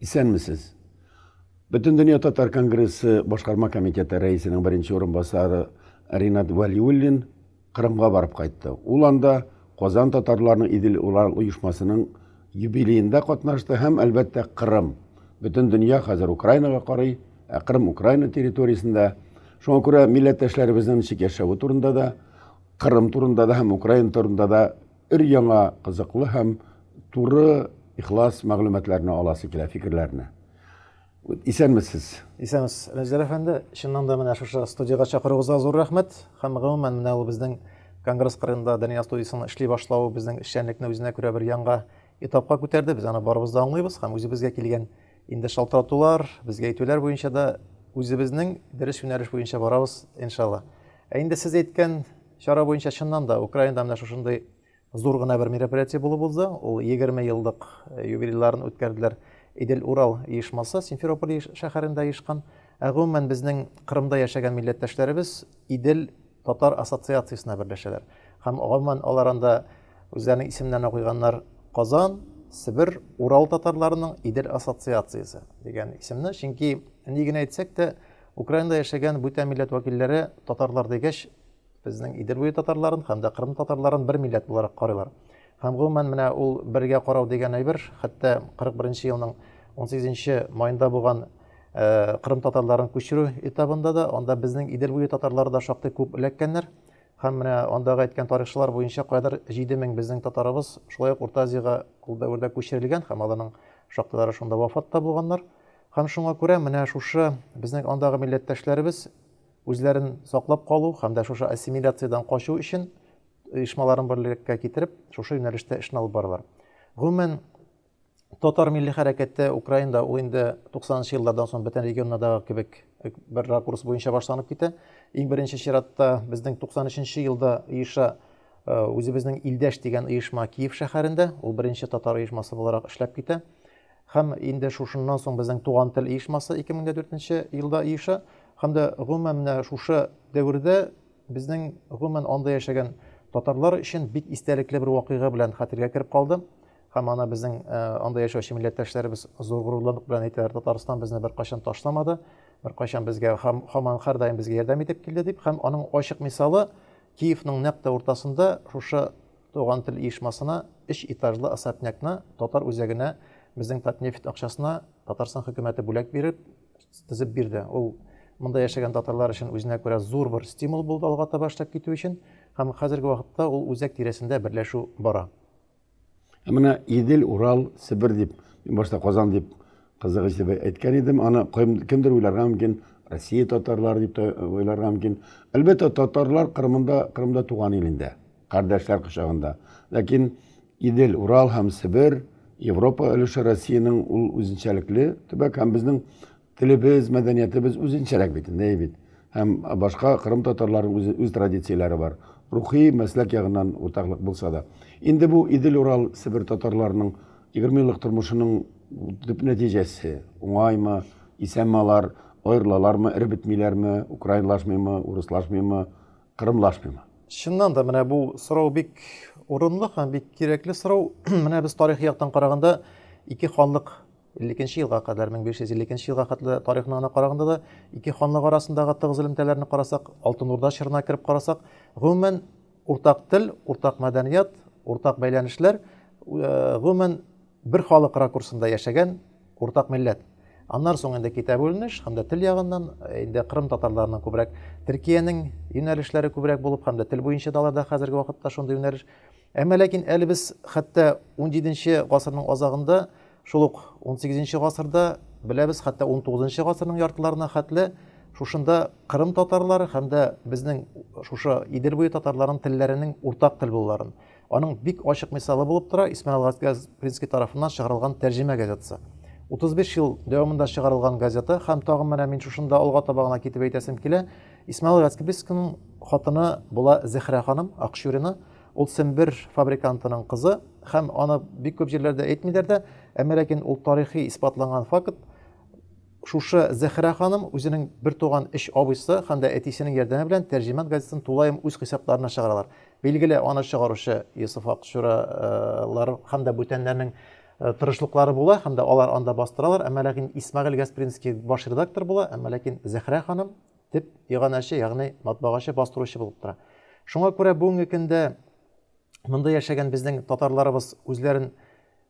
Исәнмесез. Бөтен дөнья татар конгрессы башкарма комитеты рәисенең беренче урынбасары Ринат Валиуллин Кырымга барып кайтты. Ул анда Казан татарларының Идел Урал оешмасының юбилеенда катнашты һәм, әлбәттә, Кырым. Бөтен дөнья хәзер Украинага карый, ә Кырым Украина территориясендә. Шуңа күрә милләттәшләребезнең ничек яшәве турында да, Кырым турында да һәм Украина турында да өр-яңа кызыклы һәм туры, ихлас мәгълүматларны аласы килә, фикерләрне. Исәнмесез. Исәнмесез. Ләҗдәр әфәнде, чыннан да менә шушы студиягә чакыруыгызга зур рәхмәт. Һәм гомумән менә ул безнең конгресс кырында Дания студиясенең эшли башлавы безнең эшчәнлекне үзенә күрә бер яңа этапка күтәрде. Без аны барыбыз да аңлыйбыз һәм үзебезгә килгән инде шалтыратулар, безгә әйтүләр буенча да үзебезнең дөрес юнәлеш буенча барабыз, иншалла. Ә инде сез әйткән чара буенча чыннан да Украинада менә шушындый Зур гына бер мероприятие булып узды. Ул 20 еллык э, юбилейларын үткәрделәр. Идел Урал оешмасы Симферополь шәһәрендә оешкан. Ә гомумән безнең Кырымда яшәгән милләттәшләребез Идел татар ассоциациясенә берләшәләр. Һәм гомумән алар анда үзләренең исемнәренә куйганнар Казан, Себер, Урал татарларының Идел ассоциациясе дигән исемне. Чөнки ни генә әйтсәк тә, Украинада яшәгән бүтән милләт вәкилләре татарлар дигәч, Безнең Идел буе татарларын һәм дә Кырым татарларын бер милләт буларак карыйлар. Һәм гомумән менә ул бергә карау дигән әйбер, хәтта 41 елның 18 майында булган э, Кырым татарларын күчерү этабында да анда безнең Идел буе татарлары да шактый күп эләккәннәр. Һәм менә андагы әйткән тарихчылар буенча кайдыр 7000 безнең татарыбыз шулай ук Урта Азиягә ул дәвердә күчерелгән һәм аларның шактылары шунда вафат та булганнар. Һәм шуңа күрә менә шушы безнең андагы милләттәшләребез үзләрен саклап калу һәм дә шушы ассимиляциядән качу өчен оешмаларын берлектә китереп, шушы юнәлештә эшне алып баралар. Гомумән, татар милли хәрәкәте Украинда ул инде 90-нчы еллардан соң бөтен регионнардагы кебек э, бер ракурс буенча башланып китә. Иң беренче чиратта безнең 93-нче елда оеша э, үзебезнең илдәш дигән оешма Киев шәһәрендә, ул беренче татар оешмасы буларак эшләп китә. Һәм инде шушыннан соң безнең Туган тел оешмасы 2004 нче елда оеша. Һәм дә гомумән менә шушы дәвердә безнең гомумән анда яшәгән татарлар өчен бик истәлекле бер вакыйга белән хәтергә кереп калды. Һәм аны безнең э, анда яшәүче милләттәшләребез зур горурлык белән әйтәләр, Татарстан безне беркайчан ташламады, беркайчан безгә һәм һаман һәрдаим безгә ярдәм итеп килде дип. Һәм аның ачык мисалы Киевның нәкъ тә уртасында шушы Туган тел оешмасына, өч этажлы особнякны татар үзәгенә безнең Татнефть акчасына Татарстан хөкүмәте бүләк биреп, төзеп бирде. Ул монда яшәгән татарлар өчен үзенә күрә зур бер стимул булды алга таба эшләп китү өчен, һәм хәзерге вакытта ул үзәк тирәсендә берләшү бара. Ә менә Идел, Урал, Себер дип, мин башта Казан дип кызыгыч дип әйткән идем, аны кемдер уйларга мөмкин, Россия татарлары дип тә уйларга мөмкин. Әлбәттә, татарлар Кырымында, Кырымда туган ил инде. кардәшләр кочагында. Ләкин Идел, Урал һәм Себер, Европа өлеше Россиянең ул үзенчәлекле төбәк һәм безнең телебез, мәдәниятебез үзенчәрәк бит, әй бит. Һәм башка кырым татарларының үз, үз традицияләре бар. Рухи, мәсләк ягыннан уртаклык булса да. Инде бу Идел, Урал, Себер татарларының 20 еллык тормышының төп нәтиҗәсе. Уңаймы, исәнме алар, аерылалармы, эреп бетмиләрме, украинлашмыймы, урыслашмыймы, Кырым Лашпима. Чыннан да менә бу сорау бик урынлы һәм бик кирәкле сорау. Менә без тарихи яктан караганда ике ханлык 52 елга кадәр 1552 елга хәтле тарихны гына караганда да ике ханлык арасындагы тыгыз элемтәләрне карасак, Алтын Урда чорына кереп карасак, гомумән уртак тел, уртак мәдәният, уртак бәйләнешләр, э, гомумән Бер халык ракурсында яшәгән уртак милләт. Аннан соң инде китә бүленеш, һәм дә тел ягыннан, э, инде Кырым татарларының күбрәк Төркиянең юнәлешләре күбрәк булып, һәм дә тел буенча да аларда хәзерге вакытта шундый юнәлеш. Әмма ләкин әле без хәтта 17 гасырның азагында, шул ук 18 гасырда беләбез, хәтта 19 гасырның яртыларына хәтле шушында Кырым татарлары һәм дә безнең шушы Идел буе татарларының телләренең уртак тел булуларын, Аның бик ачык мисалы булып тора Исмәгыйль Гаскәзпринский тарафыннан чыгарылган Тәрҗемә газетасы. 35 ел дәвамында чыгарылган газета һәм тагын менә мин шушында алга таба гына китеп әйтәсем килә. Исмәгыйль Гаскәбискиның хатыны була Зәхрә ханым Акчурина. Ул Сембер фабрикантының кызы һәм аны бик күп җирләрдә әйтмиләр дә, әмма ләкин ул тарихи исбатланган факт. Шушы Зәхрә ханым үзенең бер туган өч абыйсы һәм дә әтисенең ярдәме белән Тәрҗемәт газетасын тулаем үз хисапларына чыгаралар. Билгеле, аны чыгаручы Йосыф Акчура лар һәм дә бүтәннәрнең тырышлыклары була һәм дә алар анда бастыралар, әмма ләкин Исмәгыйль Гаспринский баш редактор була, әмма ләкин Зәхрә ханым теп иганәче, ягъни матбагачы, бастыручы булып тора. Шуңа күрә бүгенге көндә монда яшәгән безнең татарларыбыз үзләрен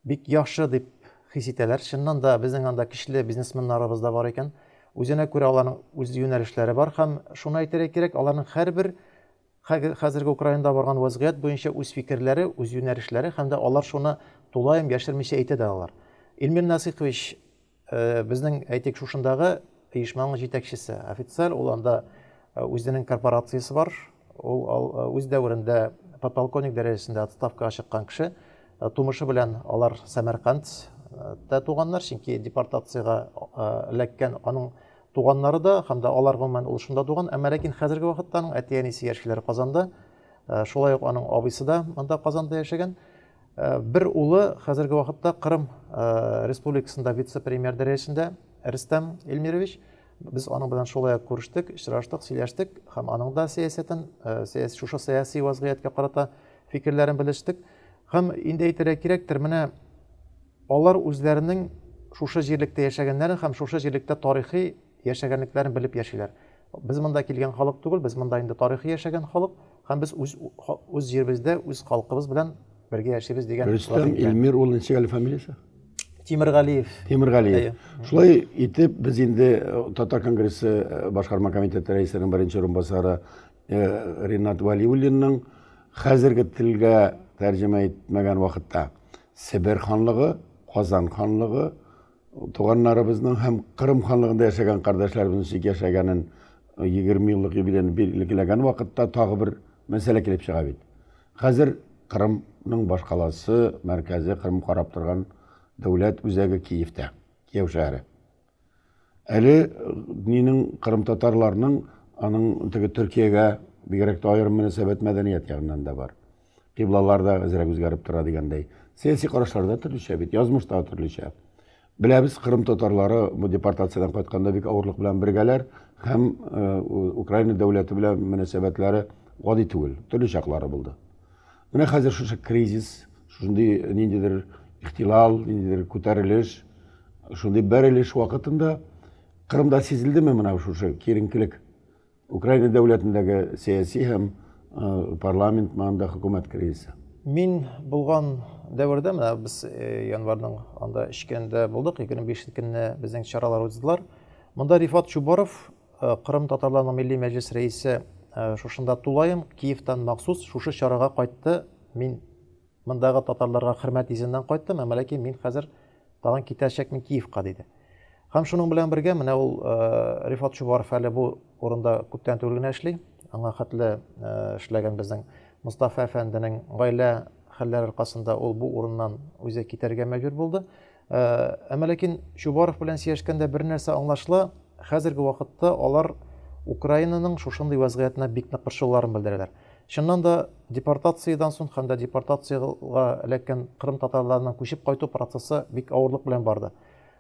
бик яхшы дип хис итәләр. Чыннан да безнең анда көчле бизнесменнарыбыз да бар икән. Үзенә күрә аларның үз юнәлешләре бар һәм шуны әйтергә кирәк, аларның һәрбер Хәге, хәзерге Украинада барган вәзгыять буенча үз фикерләре, үз юнәлешләре һәм дә алар шуны тулаем яшермичә әйтә дә алалар. Илмир Насыйкович, э, безнең, әйтик, шушындагы оешманың җитәкчесе, офицер, ул анда э, үзенең корпорациясе бар, ул ал, э, үз дәверендә подполковник дәрәҗәсендә отставкага чыккан кеше, э, тумышы белән алар Сәмәркандта туганнар, чөнки депортациягә э, эләккән аның Туганнары да һәм дә алар гомумән ул шунда туган, әмма ләкин хәзерге вакытта аның әти-әнисе яшиләр Казанда. Э, шулай ук аның абыйсы да монда Казанда яшәгән. Э, бер улы хәзерге вакытта Кырым э, республикасында вице-премьер дәрәҗәсендә Рөстәм Эльмирович. Без аның белән шулай ук күрештек, очраштык, сөйләштек һәм аның да сәясәтен, сәяси шушы сәяси вазгыятькә карата фикерләрен белештек. Һәм инде әйтергә кирәктер, менә Алар үзләренең шушы җирлектә яшәгәннәрен һәм шушы җирлектә тарихи яшәгәнлекләрен белеп яшиләр. Без монда килгән халык түгел, без монда инде тарихи яшәгән халык һәм без үз үз җиребездә үз халкыбыз белән бергә яшибез дигән. Рөстәм Илмир ул ничек әле фамилиясе? Тимергалиев. Тимергалиев. Шулай итеп без инде э, Татар конгрессы э, башкарма комитеты рәисенең беренче урынбасары э, Ринат Валиуллинның хәзерге телгә тәрҗемә итмәгән вакытта Себер ханлыгы, Казан ханлыгы туганнарыбызның һәм Кырым ханлыгында яшәгән кардәшләребезнең ничек яшәгәнен 20 еллык юбилейны билгеләгән вакытта тагы бер мәсьәлә килеп чыга бит. Хәзер Кырымның башкаласы, мәркәзе Кырым карап торган дәүләт үзәге Киевтә, Кияү шәһәре. Әле динең кырымтатарларның аның теге Төркиягә бигрәк тә аерым мөнәсәбәт мәдәният ягыннан да бар. Кыйблалар да әзрәк үзгәреп тора дигәндәй. Сәяси карашлар да төрлечә бит, язмыш та төрлечә. Беләбез, кырым татарлары бу депортациядән кайтканда бик авырлык белән бергәләр һәм э, Украина дәүләте белән мөнәсәбәтләре гади түгел, төрле чаклары булды. Менә хәзер шушы кризис, шундый ниндидер ихтилал, ниндидер күтәрелеш, шундый бәрелеш вакытында Кырымда сизелдеме менә шушы киеренкелек? Украина дәүләтендәге сәяси һәм парламент маңында хөкүмәт кризисы. Мин булган дәвердә менә без январьның анда эчкәндә булдык, 25 көнне безнең чаралар уздылар. Монда Рифат Чубаров Э, Кырым татарларының милли мәҗлес рәисе э, шушында тулаем, Киевтан махсус шушы чарага кайтты. Мин мондагы татарларга хөрмәт йөзеннән кайттым, әмма ләкин мин хәзер тагын китәчәкмен Киевка диде. Һәм шуның белән бергә менә ул э, Рифат Чубаров әле бу урында күптән түгел генә эшли. Аңа хәтле эшләгән безнең Мустафа әфәнденең гаилә хәлләре аркасында ул бу урыннан үзе китәргә мәҗбүр булды. Э, әмма ләкин Чубаров белән сөйләшкәндә бер нәрсә аңлашыла, хәзерге вакытта алар Украинаның шушындый вәзгыятенә бик нык борчылуларын белдерәләр. Чыннан да депортациядан соң һәм дә депортациягә эләккән кырым татарларының күчеп кайту процессы бик авырлык белән барды.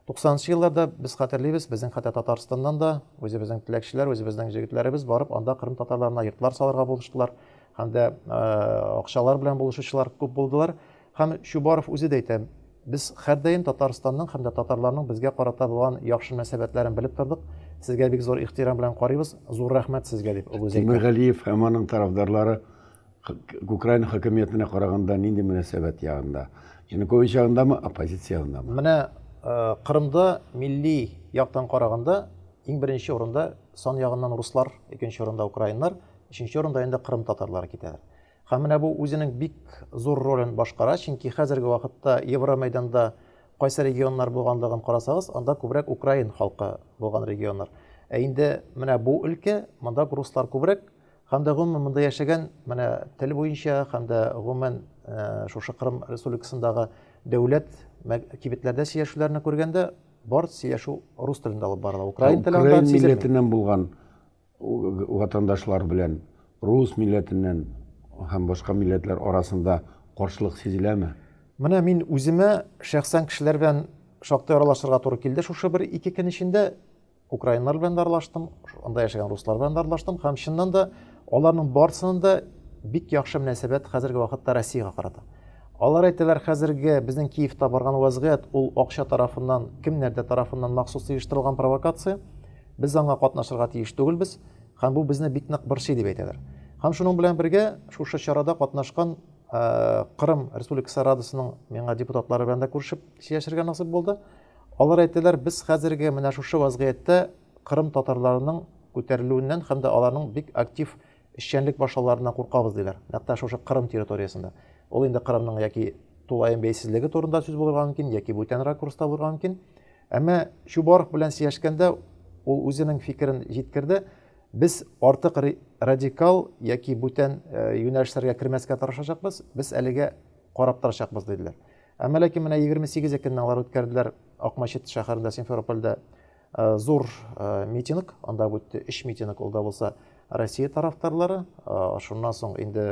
90-нчы елларда без хәтерлибез, безнең хәтта Татарстаннан да үзебезнең теләкчеләр, үзебезнең җегетләребез барып анда кырым татарларына йортлар салырга булыштылар һәм дә э, акчалар белән булышучылар күп булдылар. Һәм Чубаров үзе дә әйтә, Без һәрдаим Татарстанның һәм дә татарларның безгә карата булган яхшы мөнәсәбәтләрен белеп тордык, сезгә бик зур ихтирам белән карыйбыз, зур рәхмәт сезгә, дип Огуз әйтә. Тимергалиев һәм аның тарафдарлары Украина хакимиятенә караганда нинди мөнәсәбәт ягында? Янукович ягындамы, оппозиция ягындамы? Менә Кырымда милли яктан караганда иң беренче урында сан ягыннан руслар, икенче урында украиннар, өченче урында инде кырым татарлары китәләр. Һәм менә бу үзенең бик зур ролен башкара, чөнки хәзерге вакытта Евромәйданда кайсы регионнар булганлыгын карасагыз, анда күбрәк украин халкы булган регионнар. Ә инде менә бу өлкә, монда руслар күбрәк, һәм дә гомумән монда яшәгән, менә тел буенча һәм дә гомумән э, шушы Кырым республикасындагы дәүләт кибетләрдә сөйләшүләрне күргәндә, бар сөйләшү рус телендә алып барыла. Украин телендә милләтеннән булган Ватандашлар белән рус милләтеннән һәм башка милләтләр арасында каршылык сизеләме? Менә мин үземә шәхсән кешеләр белән шактый аралашырга туры килде шушы бер ике көн эчендә. Украиннар белән дә аралаштым, анда яшәгән руслар белән дә аралаштым һәм чыннан да аларның барсының да бик яхшы мөнәсәбәт хәзерге вакытта Россиягә карата. Алар әйтәләр, хәзерге безнең Киевта барган вазгыять ул акча тарафыннан, кемнәрдә тарафыннан махсус оештырылган провокация. Без аңа катнашырга тиеш түгелбез, һәм бу безне бик нык борчый дип әйтәләр. Һәм шуның белән бергә шушы чарада катнашкан э, Кырым Республикасы Радасының миңа депутатлары белән дә күрешеп сөйләшергә насыйп булды. Алар әйттеләр, без хәзерге менә шушы вазгыятьтә Кырым татарларының күтәрелүеннән һәм дә аларның бик актив эшчәнлек башлауларына куркабыз диләр. Нәкъ шушы Кырым территориясендә. Ул инде Кырымның яки тулаем бәйсезлеге турында сүз булырга мөмкин, яки бүтән ракурста булырга мөмкин. Әмма Чубаров белән сөйләшкәндә ул үзенең фикерен җиткерде. Без артык радикал яки бүтән э, юнәлешләргә кермәскә тырышачакбыз, без әлегә карап торачакбыз диделәр. Әмма ләкин менә 28 көнне алар үткәрделәр Акмачет шәһәрендә Симферопольдә э, зур э, митинг, анда үтте 3 митинг ул да булса Россия тарафдарлары, шуннан соң инде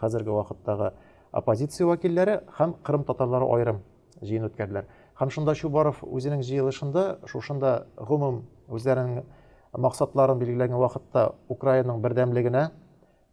хәзерге вакыттагы оппозиция вәкилләре һәм Кырым татарлары аерым җыен үткәрделәр. Һәм шунда Чубаров үзенең җыелышында шушында гомум үзләренең максатларын билгеләгән вакытта Украинаның бердәмлегенә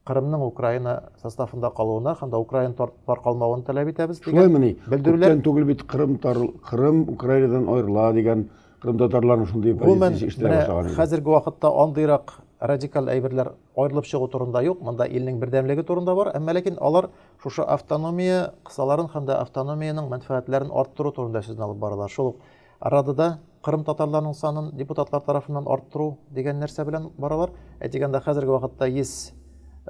Кырымның Украина составында калуына һәм дә Украина таркалмавын таләп итәбез дигән. Шулаймыни? Белдерүләр. Күптән түгел бит Кырым тар... Кырым Украинадан аерыла дигән Кырым татарларының шундый позициясе эшләп башлаган. Хәзерге вакытта андыйрак радикаль әйберләр аерылып чыгу турында юк. Монда илнең бердәмлеге турында бар. Әмма ләкин алар Шушы автономия кысаларын һәм дә автономиянең мәнфәгатьләрен арттыру турында сүзне алып баралар. Шул ук арада да кырым татарларының санын депутатлар тарафыннан арттыру дигән нәрсә белән баралар. Әйтик, анда хәзерге вакытта 100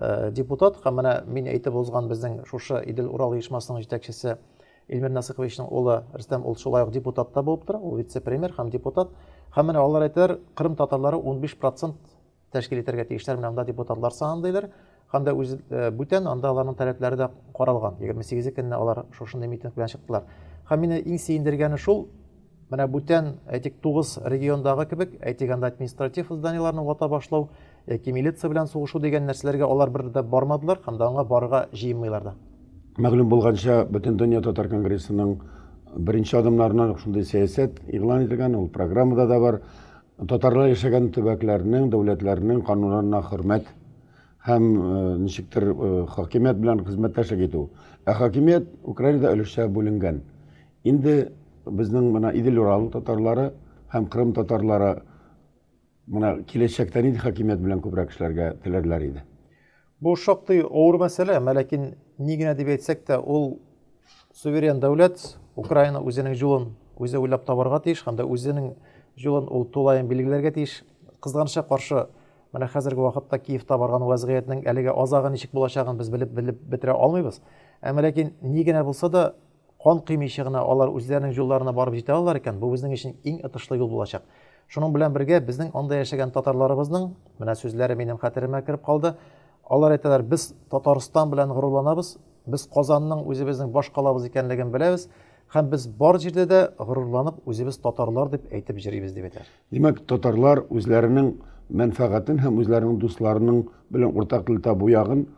э, депутат һәм менә мин әйтеп узган безнең шушы Идел Урал оешмасының җитәкчесе Илмир Насыйковичның улы Рөстәм ул шулай ук депутат та булып тора, ул вице-премьер һәм депутат. Һәм менә алар әйтәләр, Кырым татарлары 15% тәшкил итәргә тиешләр менә анда депутатлар саны диләр һәм дә үз э, бүтән анда аларның таләпләре дә каралган егерме сигезе көнне алар шушындый митинг белән чыктылар һәм мине иң сөендергәне шул менә бүтән әйтик тугыз региондагы кебек әйтик анда административ зданиеларны вата башлау яки милиция белән сугышу дигән нәрсәләргә алар бер дә бармадылар һәм дә аңа барырга җыенмыйлар да мәгълүм булганча бөтен дөнья татар конгрессының беренче адымнарына шундый сәясәт игълан ителгән ул программада да бар Татарлар яшәгән төбәкләрнең, дәүләтләрнең кануннарына хөрмәт һәм ничектер хакимият белән хезмәттәшлек итү. Ә хакимият Украинада өлешчә бүленгән. Инде безнең менә Идел-Урал татарлары һәм Крым татарлары менә киләчәктә нинди хакимият белән күбрәк эшләргә теләрләр иде? Бу шактый авыр мәсьәлә, мәләкин ни генә дип әйтсәк тә, ул суверен дәүләт, Украина үзенең юлын үзе уйлап табарга тиеш һәм дә үзенең юлын ул тулаем билгеләргә тиеш. Кызганычка каршы, менә хәзерге вакытта Киевта барган вазгыятьнең әлегә азагы ничек булачагын без белеп белеп бетерә алмыйбыз. Әмма ләкин ни генә булса да Кан көймичә генә алар үзләренең юлларына барып җитә алалар икән, бу безнең өчен иң отышлы юл булачак. Шуның белән бергә, безнең анда яшәгән татарларыбызның, менә сүзләре минем хәтеремә кереп калды, алар әйтәләр, без Татарстан белән горурланабыз, без Казанның үзебезнең баш калабыз икәнлеген беләбез һәм без бар җирдә дә горурланып үзебез татарлар дип әйтеп җөрибез, дип әйтәләр. Димәк, татарлар үзләренең мәнфәгатен һәм үзләренең дусларының белән уртак тел табу ягын,